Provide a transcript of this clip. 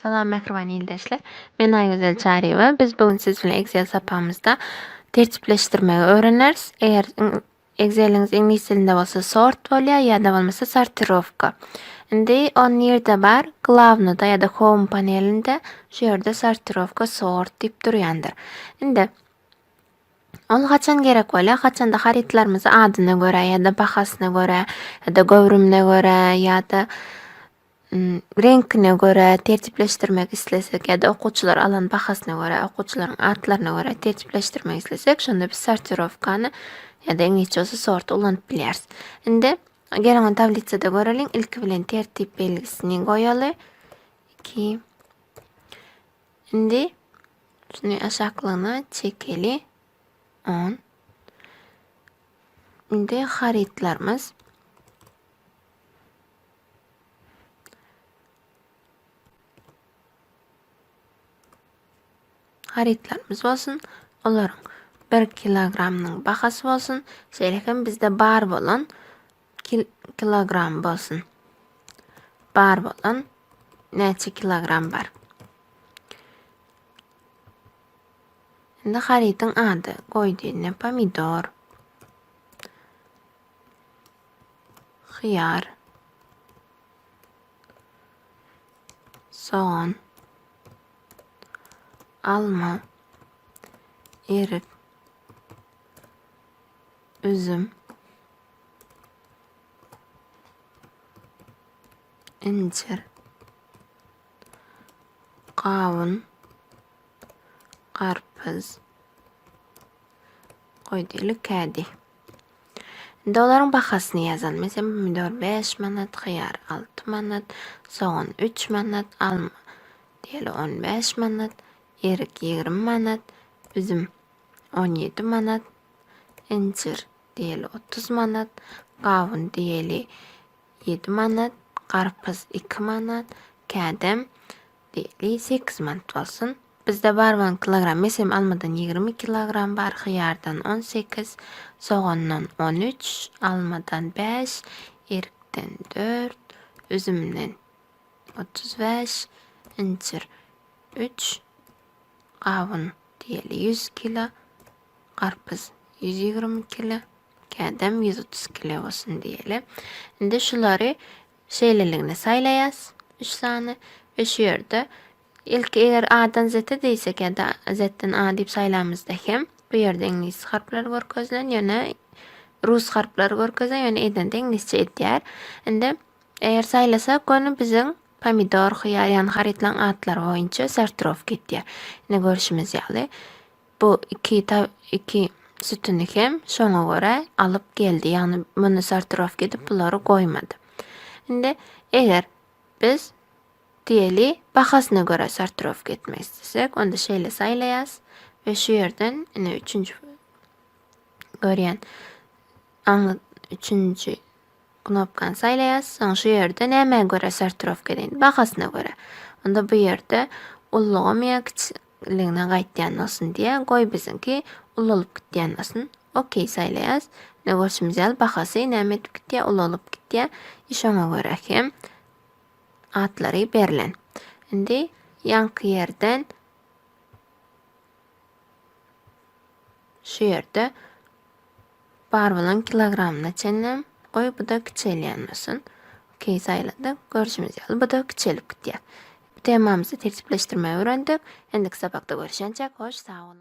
Salam mähriban ildeşler. Men Aýgözel Çaryýewa. Biz bu gün siz bilen Excel sapamyzda tertipleşdirmegi öwreneris. Eger Exceliňiz iňlis dilinde bolsa sort bolýar ýa-da bolmasa sortirowka. Indi ol nirde bar? Glawnyda ýa-da home panelinde şu ýerde sortirowka sort diýip durýandyr. Indi ol haçan gerek bolýar? Haçanda harytlarymyzy adyna görä ýa-da bahasyna görä ýa-da göwrümine görä ýa-da reňkine görä tertipleşdirmek islesek ýa-da okuwçylar alan bahasyna görä, okuwçylaryň atlaryna görä tertipleşdirmek islesek, şonda biz sortirowkany ýa-da iňlisçe bolsa sorty ulanyp bilýäris. Indi geliň ony tablisada göreliň. Ilki bilen tertip belgisini goýaly. Iki. Indi şuny aşaklygyna çekeli. On. Indi harytlarymyz. Harytlarymyz bolsun, olaryň bir kilogramynyň bahasy bolsun, şeýle hem bizde bar bolan kil kilogram bolsun. Bar bolan näçe kilogram bar? Indi harytyň ady goýdy, pomidor. hyýar, sogan, alma, erik, üzüm, incir, gawun, garpyz, goý diýeli kädi. Indi olaryň bahasyny ýazaly. Meselem, pomidor bäş manat, hyýar alty manat, sogan üç manat, alma diýeli on bäş manat, erik ýigrimi manat, üzüm on ýedi manat, injir diýeli otuz manat, gawun diýeli ýedi manat, garpyz iki manat, kädem Degli sekiz mant bolsun. Bizde bar bolan kilogram mesem almadan ýigrimi kilogram bar hyýardan on sekiz sogandan on üç almadan bäş erikden dört üzümden otuz bäş injir üç gawun diýeli ýüz kilo garpyz ýüz ýigrimi kilo kädem ýüz otuz kilo bolsun diýeli indi şulary Şeýleligini saýlaýas üç sany we şu ýerde ilki eger A-dan Z-e diýsek ýa-da Z-den A diýip saýlamyzda hem bu ýerde iňlis harplary görkezilen ýöne rus harplary görkezen ýöne edende iňlisçe edýär. Indi eger saýlasak göni biziň pomidor, hyýar ýagny harytlaryň atlary boýunça sortirowka edýär. Ine görşümiz ýaly. Bu iki iki sütüni hem şoňa görä alyp geldi. Ýagny muny sortirowka edip bulary goýmady. Indi eger biz diýeli bahasyna görä sortirowka etmek istesek, onda şeýle saýlaýas we şu ýerden ine üçünji görýän aňly üçünji knopkany saýlaýas. Soň şu ýerde nämä görä sortirowka edin? Bahasyna görä. Onda bu ýerde ullugam ýa Iliňden gaýtýan bolsun diýä goý biziňki ulalyp gitýän bolsun okey saýlaýas ine görşümiz ýaly bahasy näme edip gitýä ulalyp gitýä i şoňa görä hem atlary berlen indi ýaňky ýerden şu ýerde Bar bolan kilogramyna çenlem goý bu-da kiçelýän bolsun. Okey saýladyk. Görşümiz ýaly bu-da kiçelip gitýär. Temamyzy tertipleşdirmegi öwrendik. Indiki sapakda görüşençek hoş sag boluň.